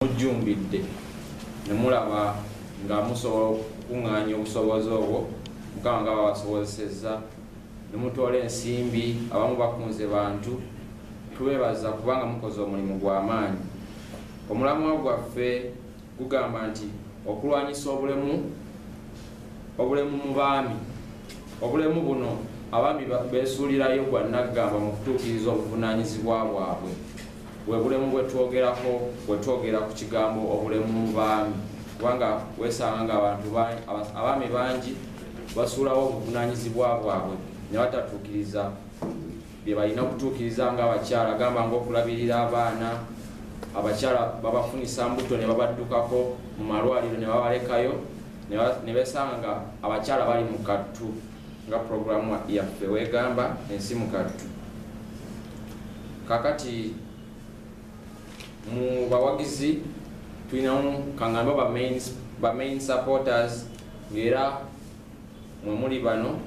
mujjumbidde ne mulaba nga musobola okukuŋŋaanya obusobozi obwo mukama nga babasobozesezza ne mutoola ensimbi abamu bakunze bantu tubeebaza kubanga mukoze omulimu gwa maanyi omulamwa gwaffe gugamba nti okulwanyisa obulemu obulemu mu baami obulemu buno abaami beesuulirayo gwa nnaggamba mu kutuukiriza obuvunaanyizibwa bwabwe bwe bulemu bwe twogerako bwe twogera ku kigambo obulemu mu baami kubanga weesanga ng'abantu abaami bangi basuulawo obuvunaanyizibwa bwabwe ne batatuukiriza bye balina okutuukiriza ng'abakyala gamba ng'okulabirira abaana, abakyala babafunisa mbuto ne babaddukako mu malwaliro ne babalekayo ne besanga nga abakyala bali mu kattu nga pulogulaamu yaffe weegamba ensi mu kattu kakati mu bawagizi tulinamu kangambe ba main supporters ng'era mwe muli bano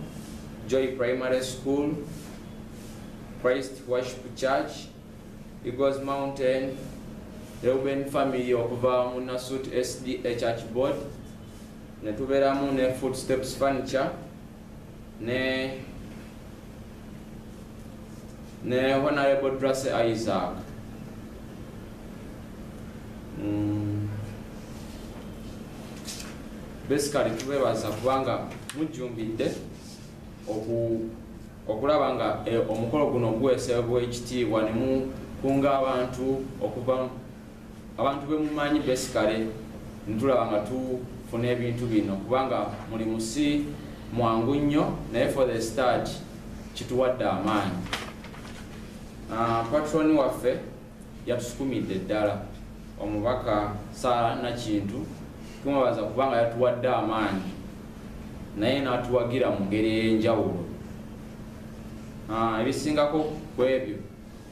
joy primary school christ worship church eagles mountain reuben family okuva mu nasut sda church board ne tubeeramu ne footsteps furniture ne ne honorable drase isaac mm. basically tubebaza kubanga mujjumbidde okulaba nga eh, omukolo guno guwesebwa ekitiibwa nemukunga abantu okuva Abantu bemumanyi besikale ntulaba nga tufuna ebintu bino kubanga mulimu si mwangu nnyo naye for the start kituwadde amaanyi. Ah, Patroni waffe yatusukumidde ddala omubaka Sara Nakintu tumubaza kubanga yatuwadde amaanyi naye natuwagira mu ngeri ey'enjawulo ah, ebisingako ku ebyo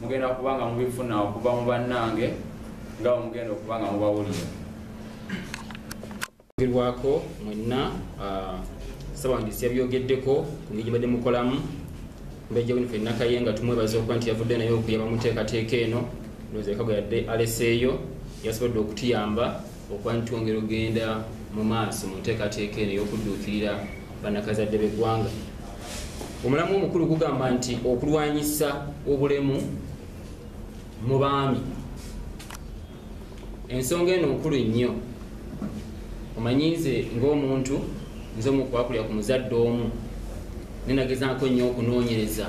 mugenda kuba nga mubifuna okuva mu bannange nga bwemugenda okuba nga mubawulira ogerwako mwenna ah, ssabawandiisi yabyogeddeko ku ngeri gyebadde mukolamu mbejja wino fenna kaye nga tumwebaza okuba nti yavudde naye okuyaba muteekateeka eno nozekagwe yadde aleseeyo yasobodde okutuyamba okuba nti twongera okugenda mu maaso mu nteekateeka eno ey'okudduukirira bannakazadde b'eggwanga omulamu omukulu gugamba nti okulwanyisa obulemu mu baami ensonga eno nkulu nnyo omanyi nze ng'omuntu nze omukwakulira ku muzadde omu nenagezaako nnyo okunoonyereza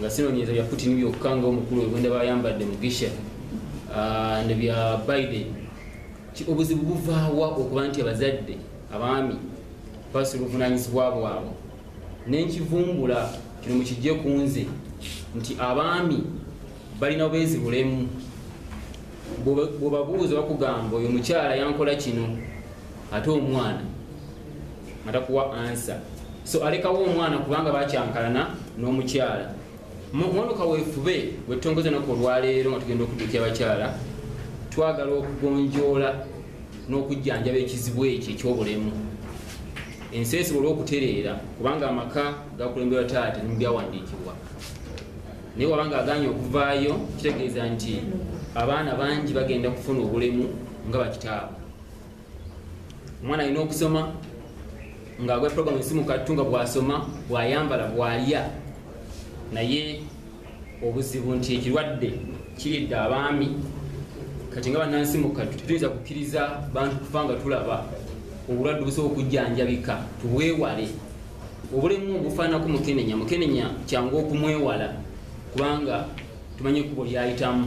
nga sinonyereza bya putin byokka nga omukulu wegwenda bayambadde mugisha ah, ne bya biden obuzibu buvaawa okuba nti abazadde abaami basi oluvunanyizibwa bwabwe nenkivumbula kino mukijje ku nze nti abaami balina bwezi bulemu bwebabuuza bakugamba oyo mukyala yankola kino ate omwana atakuwa ansa so alekawo omwana kubanga bakyankalana n'omukyala mwono kaweefube wetutongoza naku olwaleero nga tugenda okudukya abakyala twagala okugonjoola n'okujjanjaba ekizibu ekyo ekyobulemu ensi esiba olwokutereera kubanga amaka gakulemberwa taata nebyawandiikibwa naye waba nga aganye okuvaayo kitegeeza nti abaana bangi bagenda kufuna obulemu nga bakitaabwe omwana alina okusoma nga agwa program esimu kattu nga bwasoma bwayambala bwalya naye obuzibu nti ekirwadde kiridde abaami kati nga banansi mu kattu tetuyinza kukkiriza bantu kufa nga tulaba obulwadde obusobola okujjanjabika tubwewale obulemu obufaanako mukenenya mukenenya kyangu okumwewala kubanga tumanyi ekkubo lyayitamu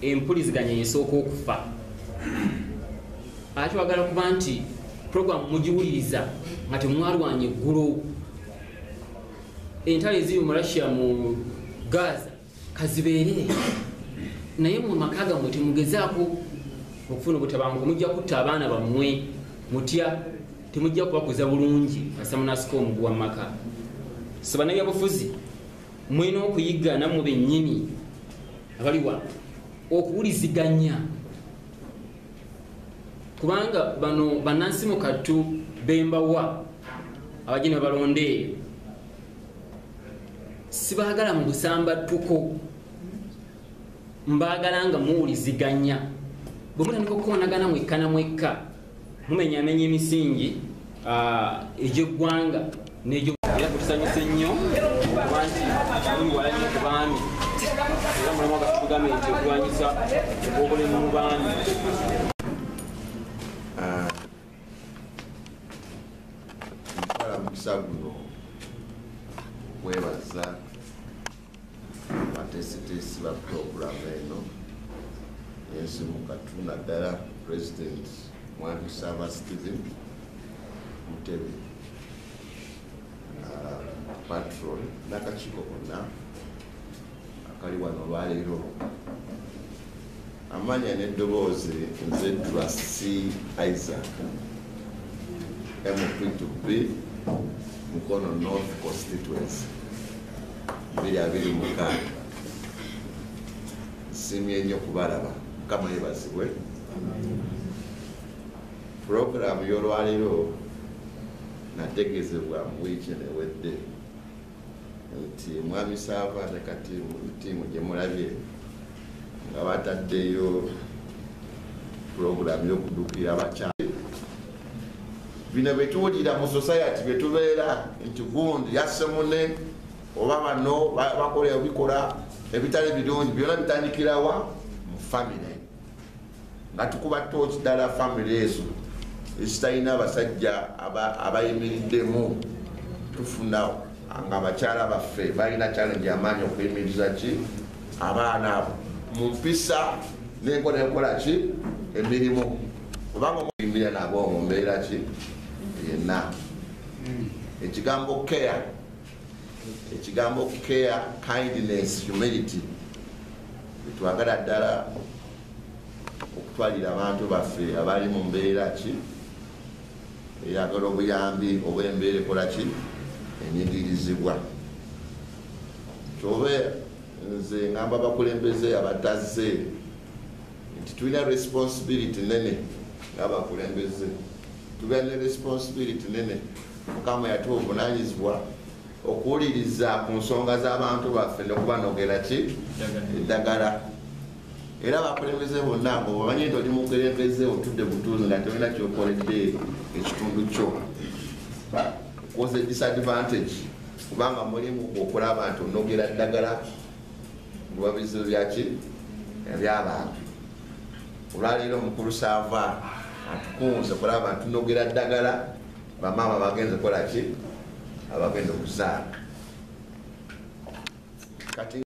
empuliziganya yesooka okufa ate wagala kuba nti programu mugiwuliriza nga temwalwanya eggulu entalo eziri mu russia mu gaza kazibeere naye mu maka gamwe temugezaako okufuna obutabanguko mujja kutta abaana bammwe mutya temujja kubakuza bulungi asamunasika omuguwa mu maka so banabyabufuzi mwena okuyiga nammwe bennyini abali wano okuwuliziganya kubanga bano banansi mu kattu bembawa abajina balonda eyo sibagala mu busambattuko mbaagala nga muwuliziganya bwe mutandika okukonagana mwekka na mwekka mumenyamenya emisingi ah, egy'eggwanga n'egyo era kutusanyuse nnyo kuba nti tuli wala nnyo ku baami era mulimu agatugambye nti okulwanyisa obulemu mu baami ah, mukisa guno okwebaza abateesiteesi ba pulogulaamu eno ensimukatu naddala president mwami saaba steven mutebe uh, patron n'akakiiko konna akali wano olwaleero Amanya ne doboozi nze Trasi Isaac MP to be Mukono North Constituency biri abiri mukaaga nsimye nnyo kubalaba mukama yebazibwe puroguramu y'olwaliro nategezebwa mu wiiki enewedde nti mwami saava ne katiimu tiimu gye mulabye nga bataddeyo pulogulaamu y'okudukira abakyala bino byetuwulira mu society byetubeera nti gundi yasse mune oba bano bakola ebikola ebitali birungi byona bitandikirawa mu famire Nga tukuba tooki dala family ezo ezitalina basajja abayimiriddemu tufuna nga bakyala baffe balina challenge amaanyi okuyimiriza ki abaana abo mu mpisa nenkola enkola ki emirimu kubanga omuyimbira nabo mu mbeera ki yenna ekigambo care ekigambo care kindness humility twagala ddala okutwalira abantu baffe abali mu mbeera ki eyagala obuyambi oba embeera ekola ki enyigirizibwa kyobe nze ngamba abakulembeze abatazze nti tulina responsibility nene ngaabakulembeze tubeera ne responsibility nene Mukama yatuwa obunanyizibwa okuwuliriza ku nsonga z'abantu baffe nokubanogera ki eddagala era bakulembeze bonna ngo bamanyi nti oli mukulembeze otudde butuuzi nga tolina kyokoledde ekitundu kyo was a disadvantage kubanga mulimu okulaba nti onogera ddagala oba bizibu byaki ebyabantu olwaleero omukulu saava atukunze kulaba nti tunogera ddagala Bamaama bagenze kola ki? Abagenze okuzaala kati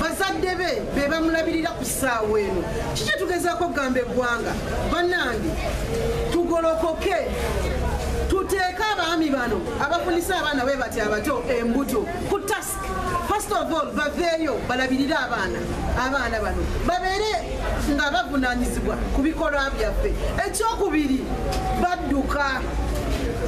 bazadde be be bamulabirira ku ssaawa eno kiki tugezaako okugamba eggwanga bannange tugolokoke tuteeke abaami bano abafunisa abaana bwe bati abato embuto ku task first of all baveeyo balabirire abaana abaana bano babeere nga bavunanyizibwa ku bikolwa byaffe ekyokubiri badduka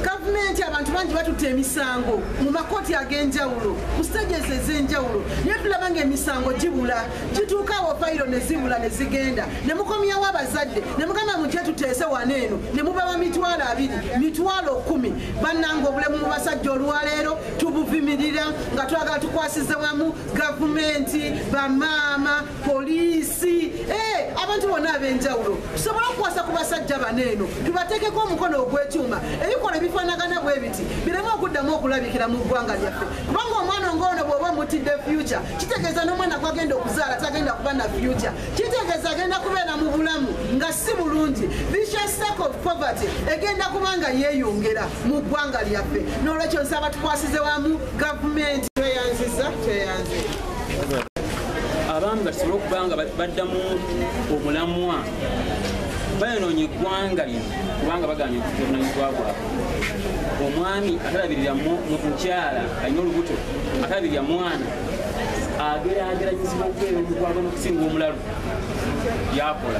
gavumenti abantu bangi batutte emisango mu makooti ag'enjawulo ku siteegi ezo ez'enjawulo naye tulaba ng'emisango gibula gituuka awo fayiro ne zibula ne zigenda ne mukomyawo abazadde ne mugamba mu gye tuteese wano eno ne mubawa mitwalo abiri mitwalo kumi bannanga obulemu mu basajja olwaleero tubuvimirira nga twagala tukwasize wamu gavumenti bamaama poliisi eh, abantu bonna ab'enjawulo tusobole okukwasa ku basajja bano eno tubateekeko omukono ogw'ekyuma ebikolwa ebifaanagana bwe biti bireme okuddamu okulabikira mu ggwanga lyaffe kubanga omwana ng'ono bw'oba omutidde fyuca kitegeeza n'omwana gwagenda okuzaala tagenda kuba na fyuca kitegeeza agenda kubeera mu bulamu nga si bulungi poverty egenda kuba nga yeeyongera mu ggwanga lyaffe n'olwekyo nsaba tukwasize wamu gavumenti tweyanziza tweyanziza abaami batusobole okuba nga baddamu omulamwa bayonoonye eggwanga lino kubanga baganye okuvunanyizibwa bwabwe omwami atalabirira mukyala alina olubuto atalabirira mwana agerageranyizibwa okubeera omugwagwa nokusinga omulalu yakola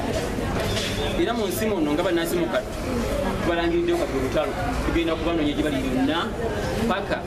era mu nsi muno nga banansi mukattu tubalangiriddeyo kati olutalo tugenda kubanoonya gye bali yonna paka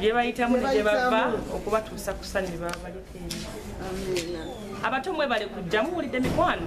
gyebayitamu negyebava okubatuusa ku sanyu babaleka abato mwebale kujja muwulidde mikwano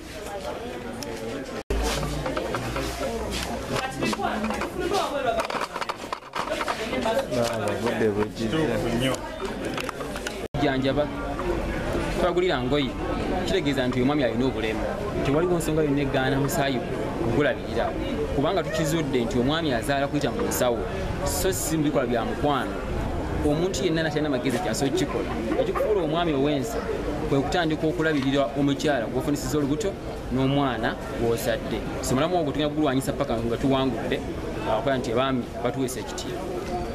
janjaba twagulira ngoye kitegeeza nti omwami alina obulemu tewaliwo nsonga yonna egaana musaayi gulabirira kubanga tukizudde nti omwami azaala kuyita mu nsawo so si mubikola bya mukwano omuntu yenna natalina magezi kyasobola kukikola ekikufuula omwami owensi kwe kutandika okulabirira omukyala gwofunisiza olubuto n'omwana gwozadde somulamu ogwo tulina kugulwanyisa paka nga tuwangudde akola nti abaami batuweesa ekitiibwa